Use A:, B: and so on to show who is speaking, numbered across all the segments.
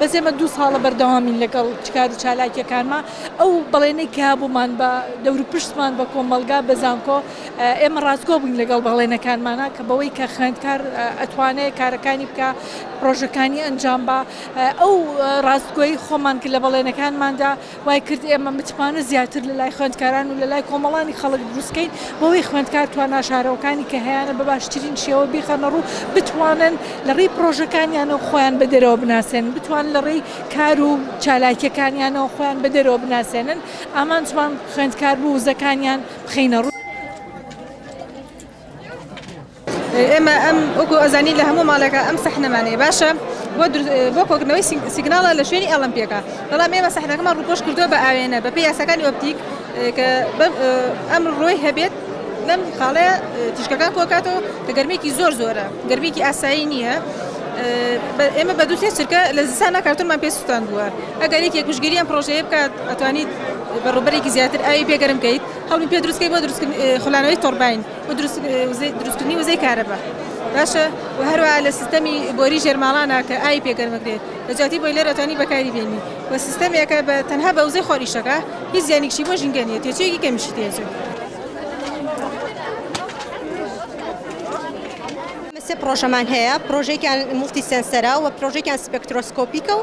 A: بەس ئێمە دوو ساڵە بەردەوامین لەگەڵ چکار و چالاکیەکانمان ئەو بەڵێنەی کە بوومان بە دەور پشتمان بە کۆمەلگا بە زانکۆ ئێمە ڕاستگۆ بووین لەگەڵ بەڵێنەکانمانا کە بەوەی کە خوێندکار ئەتوانێت کارەکانی بکە پرۆژەکانی ئەنجام بە ئەو ڕاستگۆی خۆمان کرد لە بەڵێنەکانماندا وای کرد ئێمە متمانە زیاتر لە لای خوێندکاران و لە لای کۆمەڵانی خەڵک دروستکەین بەوەی خوێندکار توان ناشارەوەکانی کە هەیەە بە باشترین شێوە بیخەنە ڕوو بتوانن لە ڕێی پرۆژەکانیان و خۆیان بە دەرەوە بناسێن بتوان لە ڕێی کار و چالاکیەکانیانەوە خۆیان بە دەرەوە بناسێنن ئامانجمان خوێندکار بوو وزەکانیان بخەینە ڕوو.
B: ئێمە ئەم وەکو ئەزانی لە هەموو ماڵێکە ئەم سەحنەمانەیە باشە بۆ کۆکردنەوەی سیگناڵە لە شوێنی ئەڵمپیەکە بەڵام ئێمە سەحنەکەمان ڕوپۆش کردووە بە ئاوێنە بە پێ یاسەکانی ئۆپتیک کە ئەم ڕۆی هەبێت لەم خاڵەیە تیشکەکان کۆکاتەوە کە گەرمێکی زۆر زۆرە گەرمێکی ئاسایی نییە ئێمە بە دووسێ چرکە لە زستانە کارتونمان پێ سووتان بووە ئەگەر یەکێک پشتگیری ئەم پڕۆژەیە بکات ئەتوانیت بە ڕووبەرێکی زیاتر ئاوی پێ گەرم بکەیت هەوڵی پێ دروست بکەیت بۆ دروستکردنی خولانەوەی تۆڕباین و دروستکردنی وزەی کارەبا باشە و هەروەها لە سیستەمی بۆری ژێر ماڵانە کە ئاوی پێ گەرم بکرێت لە جیاتی بۆیلەر ئەتوانی بەکاری بێنی و سیستەمێکە بە تەنها بە وزەی خۆر ئیش دەکا هیچ زیانێکی بۆ ژینگە نییە تێچوویەکی کەمیشی تێچوو
C: سێ پڕۆژەمان هەیە پڕۆژێکیان موفتی سێنسەرە و پڕۆژێکیان سپێکترۆسکۆپیکە و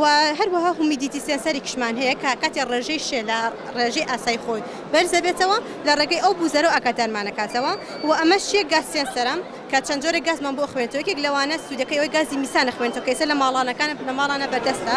C: و هەروەها هومیدیتی سێنسەرێکیشمان هەیە کە کاتێ ڕێژەی شێ لە ڕێژەی ئاسای خۆی بەرز دەبێتەوە لە ڕێگەی ئەو بوزەرەوە ئاگادارمان ئەکاتەوە و ئەمەش چیە گاز سێنسەرە کە چەند جۆرە گازمان بۆ ئەخوێنێتەوە یەکێک لەوانە سودەکەی ئەوەی گازی میسان ئەخوێنێتەوە کە ئیستا لە ماڵانەکانە لە ماڵانە بەردەستە.